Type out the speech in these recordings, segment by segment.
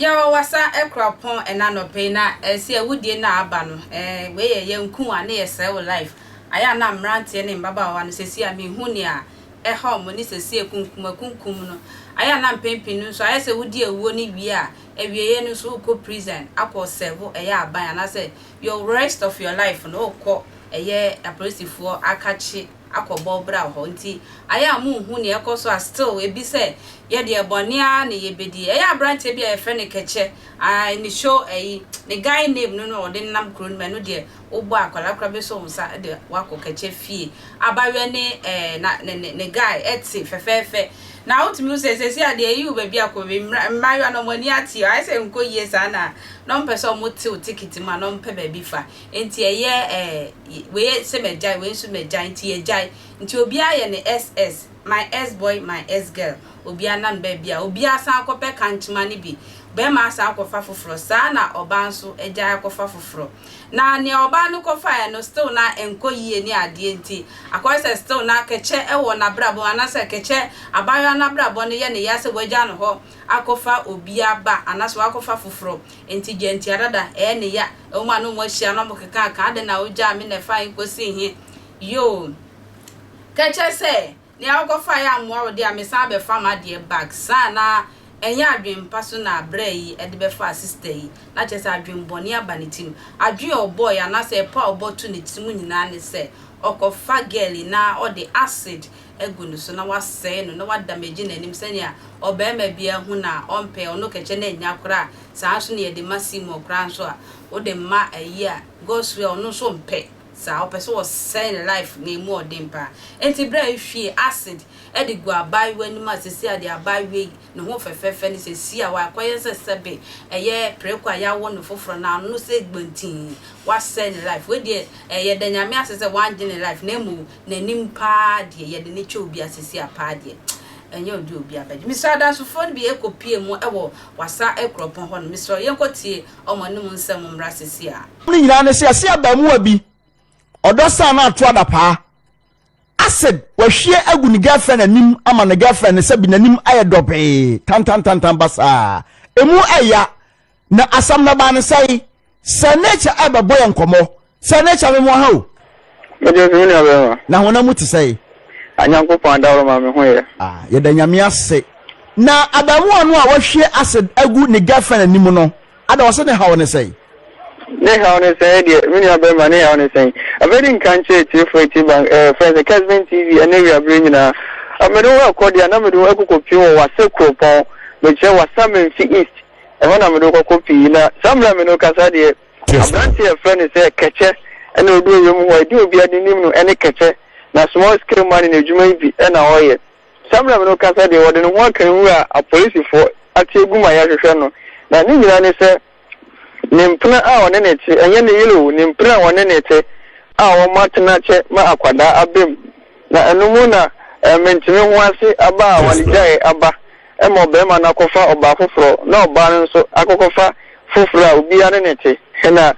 yɛwɔ wasa ɛkura pɔn ɛna nɔpɛ na ɛsɛ awudie na aba no ɛɛ wei yɛ yɛn nku a ne yɛ sɛɛ wɔ life ayɛ a na mmeranteɛ ne mbabaawa no sɛsi a mehu nea ɛha wɔn ne sɛsi akunkum akunkum no ayɛ a na mpɛn pii no nso ayɛ sɛ wodi awuo no wie a awieɛ no nso wokɔ prison akɔ sɛvo ɛyɛ aban anaasɛ your rest of your life no wokɔ ɛyɛ apolisifoɔ akakye akɔ bɔ bra wɔ hɔ nti ayɛ a monhu neɛ ɛkɔ so a still ebi sɛ yɛdeɛ bɔne ara na yɛbɛdi ɛyɛ abranteɛ bi a yɛfrɛ no kɛkyɛ ae ne show ɛyi ne guy name no no ɔde nam kuro no mu ɛno deɛ wobɔ a kwadaa koraa bɛsɔ wo nsa de wo akɔ kɛkyɛ fie. Abaayewa ne ɛɛ na ne ne ne guy te fɛfɛɛfɛ. Na wotumi hu sɛ seesei adeɛ ayi wo baabi akɔ wie. Mmra mmaayewa no wɔn ani ateɛ. Ayɛ sɛ nkɔ yie saa na na wɔmpɛ sɛ wɔte wo ticket mu a na wɔmpɛ baabi fa. Enti ɛyɛ ɛɛ wei sɛ magyae wei nso magyae nti yɛgyae. Nti obiara yɛ ne SS, my S boy, my S girl. Obiara nam baabi a obiara san kɔpɛ kankyema no bi. Barima asan akɔfa foforɔ. Saa na ɔbaa nso agyae akɔfa foforɔ. Na nea ɔbaa no kɔfaeɛ no still na ɛnkɔ yie ne adeɛ nti, akɔyɛ sɛ still na kɛkyɛ wɔ n'abrabɔ mu anaasɛ kɛkyɛ, abaayewa no abrabɔ no yɛ no ya sɛ wagya no hɔ akɔfa obi aba anaasɛ wakɔfa foforɔ nti gya ntia dada ɛyɛ no ya. Wɔn a na wɔn ahyia no wɔkekaaka adɛn na wogyaa me na ɛfa he kɔsii he? Yoo! Kɛkyɛ sɛ. Nea wokɔfaeɛ ammoa wo deɛ a, mesan abɛfa m'adeɛ back. Saa na ɛnyɛ adwene pa so na brɛ yi de bɛfaa sister yi. Na kyerɛ sɛ adwene bɔne aba ne tirim. Adwene a ɔbɔeɛ anaasɛ ɛpɔ a ɔbɔ to ne tirim nyinaa ne sɛ ɔkɔfa girl yi na ɔde acid agu ne so na wasɛe no na wa damage n'anim sɛnea ɔbarima biara hu no a ɔmpɛ ɔno kɛkyɛ na ɛnya koraa. Saa nso na yɛde ma Seymour koraa nso a wode ma ayi a Godswill a ɔno nso mpɛ. saa ɔpɛ sɛ ɔsɛe ne life na emu ɔden paa nti bere a ehwie acid de gu abaayewa anim a sɛsi a deɛ abaayewa yi ne ho fɛfɛɛfɛ ne sɛ si a wakɔyɛ sɛ sɛbe ɛyɛ preko a yɛawo no foforɔ na ano sɛ gbantii wasɛe ne life wei deɛ yɛda Nyame ase sɛ wangye ne life na mmom n'anim paa deɛ yɛde no kyɛ obi a sɛsi a paa deɛ ɛnyɛ ɔde obi abɛgye mesrɛ adansofoɔ no bi ɛkɔ pie mu wɔ wasa kuropɔn hɔ nom mesrɛ yɛnkɔ tie Wɔn anom nsɛm mmra sese a. Ne nyinaa ne sɛ yɛse abaamuwa bi ɔdɔ san na ato adapaa acid wahwie agu ne girlfriend anim ama ne girlfriend no sɛbi n'anim ayɛ dɔbee tantantantan basaa emu ɛya na asɛm no baa ne sɛe sɛ nature ɛbɛbɔ yɛ nkɔmmɔ Sɛ ne kyɛ me mo ha o. Me deɛ sɛ me nua bɛrima. Na honam mu te sɛe. A Nyankopɔn adaworo ma me ho yɛ. A yɛda Nyame ase. Na abaamuwa no a wahwie acid agu ne girlfriend anim no ada ɔse ne haw ne sɛn? Ne haw ne sɛn ɛdeɛ me nua bɛrima ne haw ne sɛn? Afei de nka nkyerɛ atiefo ati ban ɛɛ eh, friends Kesben TV ɛne awia bere nyinaa. Ah, mede wo ɛkɔ deɛ na mede wo ɛkokɔ pii wɔ wasa kuropɔn mekyerɛ wasa menfi east ɛhɔ na mede wo kɔkɔ pii na saa mmerɛ a me ne wo kasa deɛ Aberante a yɛfrɛ no sɛ Kɛkyɛ na ɔdi ɔyɛ mu hɔ. Edin a obiara de nim no ne Kɛkyɛ, na small scale money no adwuma yi bi na ɔyɛ. Samram no kasa deɛ, ɔde ne ho aka nwura a apolisifoɔ ate agu ma yɛrehwehwɛ no, na ne nyinaa ne sɛ ne mpena a ɔne no te, ɛnyɛ ne yere o, ne mpena a ɔne no te a wɔatena kyɛ ma akwadaa abam, na ɛno mu na mentene ho ase aba a wɔde gyaee aba. Ɛma ɔbarima no akɔfa ɔbaa foforɔ, na ɔbaa no nso akɔkɔfa foforɔ a obiara ne no te. Na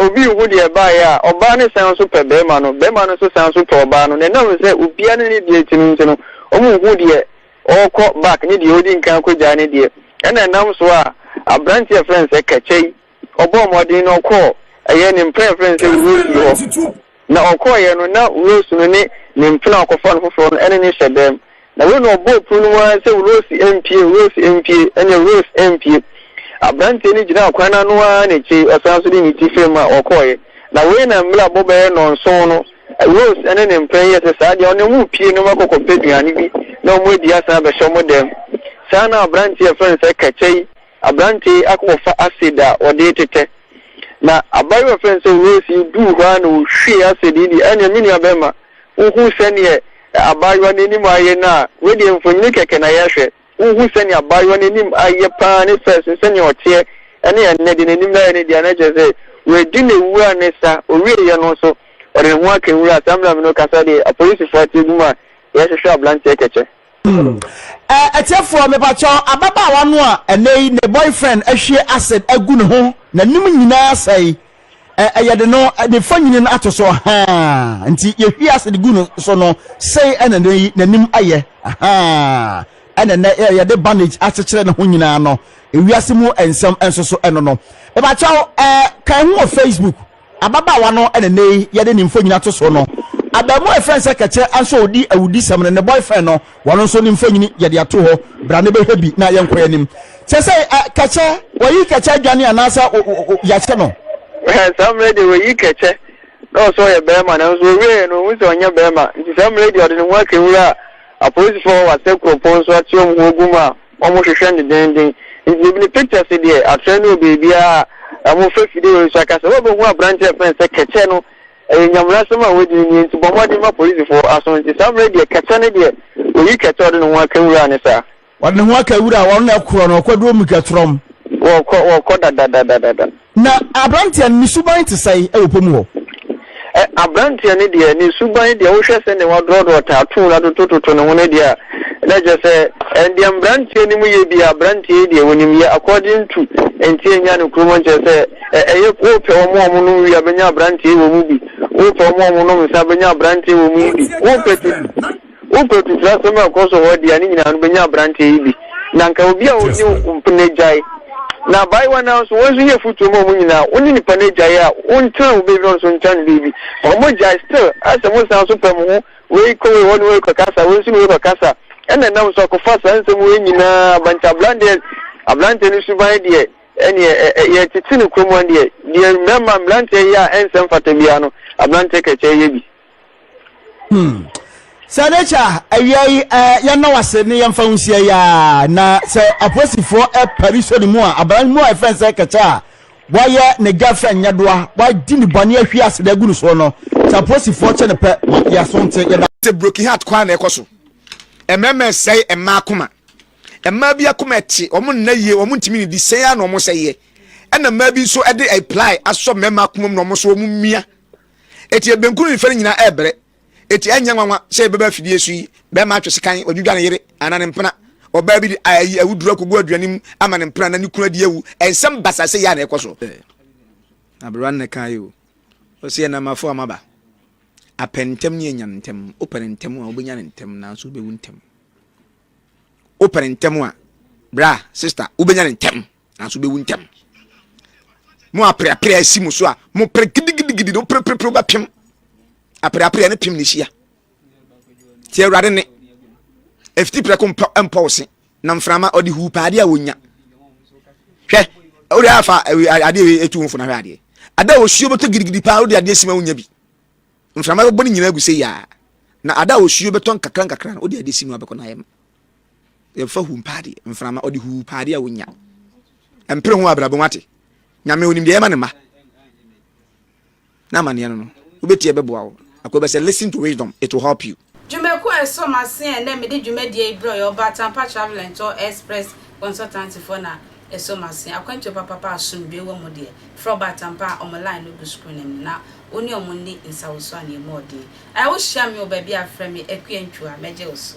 obi nhu deɛ ɛbaeɛ a, ɔbaa no san nso pɛ barima no, barima no nso san nso pɛ ɔbaa no. Na ɛnam sɛ obiara ne ne deɛ te no nti no, wɔnhu deɛ ɔrekɔ back ne deɛ ɔredi nkan akɔgyae ne deɛ. Ɛna ɛnam so a, aberanteɛ a yɛfrɛ no sɛ Kɛkyɛ yi, Ɔbɔɔ mmɔden na ɔkɔɔ. Ɛyɛ ne mprɛnprɛn sɛ Rose nni hɔ. Na ɔkɔeɛ no, na Rose no ne ne mpena a ɔkɔfaa no foforɔ no ne no hyɛ dɛm. Na wei na ɔbɔɔ pono no mu ara sɛ Rose mpue, Rose mpue, ɛneɛ Rose mpue. Abranteɛ no gyinaa kwan no ano ara na akyire yi ɔsan nso de ne ti fam a ɔkɔeɛ. Na wei na mmerɛ abɔ bɛyɛ nnɔnson no, Rose ne ne mpena yi yɛ sɛ saa deɛ ɔne wɔn repue na wɔn akɔ kɔpɛ aduane bi na wɔn adi asan abɛhyɛ wɔn dɛm. Saa na abranteɛ a yɛfrɛ no sɛ Kɛkyɛ yi Aberante yi akɔfa acid a ɔde retetɛ, na abaayewa a wɔfrɛ no sɛ Rose yi duu hɔ ara na ɔhwiee acid yi deɛ, ɛnneɛ me nuabarima, wohu sɛdeɛ abaayewa no anim ayɛ no a, wei deɛ mfonini kɛkɛ na yɛrehwɛ, wohu sɛdeɛ abaayewa no anim ayɛ pa ara, ne fɛs no, sɛdeɛ ɔteɛ ne ɛnnɛ deɛ n'anim ayɛ no deɛ a, na kyerɛ sɛ wadi ne wura no sa, ɔwieeɛ no nso, ɔde ne ho aka nwura. Saa mmerɛ a me ne wo rekasa deɛ, apolisifoɔ ate agu mu a wɔrehwehwɛ aberanteɛ kɛkyɛ. Eh, atiefoɔ mepakyɛw, ababaawa no a ɛnɛ yi ne boyfriend ahwie acid agu ne ho, n'anim nyinaa asɛe, eh, ɛyɛ de no, ne mfonini no ato so, ahaa, nti yɛhwie acid gu no so no, sei ɛna ɛnɛ yi n'anim ayɛ, ahaa, ɛna ɛnɛ eh, yɛde bandage akyekyere ne ho nyinaa no, ewiase mu nsɛm nso so ɛno no. Mepakyɛw, eh, kan ho wɔ Facebook. Ababaawa no na nnɛ yi yɛde ne mfonyin ato so no. Abaamuwa a wɔfrɛ no sɛ Kɛkyɛ nso a odi awudisɛm no, ne boyfriend no, wɔn nso ne mfonyin yɛde ato hɔ. Bra na bɛhwɛ bi na yɛnkɔ yɛn anim. Kyerɛ sɛ, ɛ, Kɛkyɛ, wɔayi Kɛkyɛ adwane anaasɛ o, o, o, yɛahyɛ no? Hwɛ, saa mmerɛ yi deɛ wɔayi Kɛkyɛ na ɔsɛ ɔyɛ barima, nanso ɔwieeɛ no, ɔhu sɛ ɔnyɛ barima, nti saa mmerɛ yi deɛ ɔde ne ho akɛwura apolisifoɔ wɔ Wasɛ kuropɔn so ateɔm ho gu mu a Wɔn hwehwɛ no dendenden. Nti ebi no pictures deɛ atrɛ no wɔ baabiara a wɔn fa fide wɔ nso akasa wobɛ hu aberanteɛ a yɛfrɛ no sɛ kɛkyɛ no ɛyɛ nyamunasɛm a wadi no nie nti bɔ mmɔden ma polisifoɔ aso nti saa mmerɛ deɛ kɛkyɛ no deɛ oyi kɛkyɛ ɔde ne ho aka wura ne saa ɔde ne ho aka wura wɔn na ɛkorɔ no ɔkɔ duro mu kɛtorɔm. Wɔkɔ wɔkɔ dadadadada. Na aberanteɛ no, ne suban te sɛn wɔ pɔ mu hɔ? Ɛ, aberanteɛ no deɛ, ne suban deɛ, wohwɛ sɛdeɛ wɔadrɔdrɔ tattoo no atotototo ne ho no deɛ a, na kyerɛ sɛ, ɛ, deɛ mmeranteɛ no mu yɛ biara, aberanteɛ yi deɛ, ɔnim yɛ according to nti a ɛnya no kurom no, kyerɛ sɛ, ɛ, ɛyɛ, wopɛ wɔn a wɔnom wii a, wobɛnya aberanteɛ wɔ mu bi, wopɛ wɔn a wɔnom nsã, wobɛnya aberanteɛ wɔ mu bi, wopɛ tete. Wokɔ atitrasɛm a ɛkɔ so wɔ hɔ deɛ a, ne nyinaa no bɛnya aberanteɛ yi bi. Na nka obi a ɔnni mpena agyae. Na abaayewa no ara nso, wɔn nso yɛ afotuo ma wɔn nyinaa. Wo ne nipa no agyae a, wontena wo baabi na ɔno nso ɔntena ne baabi. Wɔgyae still a sɛ mosan nso pɛ mo ho, wei kɔ wei hɔ ne wei rekɔkasa, wei nso ne wei rekɔkasa. Ɛna ɛnam so akɔfa saa nsɛm wei nyinaa aba. Nti abran deɛ, aberanteɛ no suban deɛ, ɛneɛ ɛ, ɛ, yɛtete no kurom ha deɛ, deɛ mmarima, mmeranteɛ yɛ a ɛnsɛ mfata biara no, aberanteɛ kɛkyɛ yɛ bi. Hmm. sɛ n'akyi a awia yi yɛnna wase ne yɛmfa ho nhyia yi a na sɛ apolisifoɔ pari so ne mu a abran mu a ɛfɛn sɛ kɛkyɛ a wayɛ ne girlfriend nyɛ doa wadi ne bɔne ahwi ase de agu no soɔ no sɛ apolisifoɔ kyɛ ne pɛ ma yɛaso nte yɛda sɛ broken heart kwan na ɛkɔ so mmarima ɛsɛe mmaa akoma mmaa bi akoma ɛte wɔn nna yie wɔn ntumi ne di sɛn a na wɔn sɛ yɛ ɛna mmaa bi nso ɛde apply asɔ mmarima akoma mu na wɔn nso wɔn mia Enti ebenkun no mfɛre nyinaa ɛɛbrɛ. Enti ɛnyɛ nwanwa sɛ yɛbɛba afidie so yi, bɛɛma atwe sekan, wadwidwa ne yere anaa ne mpena, ɔbaa bi de ayi awuduro akogu aduane mu ama ne mpena na ne kunu adi awu. Nsɛm basaase yi a na ɛkɔ so. Sɛ aberewa no na ɛka yi o, ɔse ɛnam afoa mu aba. Apɛ ntɛm ne anya no ntɛm. Wopɛ no ntɛm a, wobɛnya no ntɛm nanso wobɛwu ntɛm. Wopɛ no ntɛm a, bra, sista, wobɛnya no ntɛm. nanso wobɛwu ntɛm mo apreapre asi mo so a mopere gidigidigidi no perepere wobɛpem apreapre ne pem ne hyia nti awurade ne ɛfiti prɛko mpɔ wo se na mframa ɔde huu paa adeɛ a wɔnya hwɛ wode afa adeɛ ɛtu wo mfo na hwɛ adeɛ ada osuo bɛtɔ gidigidi paa wode adeɛ sima wonya bi mframa bɛbɔ ne nyinaa agu sɛ yia na ada osuo bɛtɔ nkakra nkakra no wode adeɛ si no abɛkɔ no ayɛ ma Yɛmfa hu mpa adeɛ, mframa, ɔde hu pa adeɛ a ɔnya. Ɛmpere ho abrabɔ mu ate. Nyame onim deɛ ɛma ne mma. Na amanneɛ no no, wobɛtie ɛbɛboa wo. Akɔ bɛ sɛ listen to wisdom, it will help you. Dwumakuo a ɛsɔ m'ase a ɛnnɛ mede dwumadie yi brɛ yɛ Ɔbaa Tampa Travel and Tour Express Consultancyfoɔ na ɛsɔ m'ase. Akwantuo papapa a asomdwoeɛ wɔ mu deɛ, frɛ Ɔbaa Tampa a wɔn line no gu screen no anim na wo ne wɔn nni nsawosuo anaa mmɔɔden. Ayɛ wo hyia me wɔ baabi a frɛ me Akua Ntua, mɛgye wo so.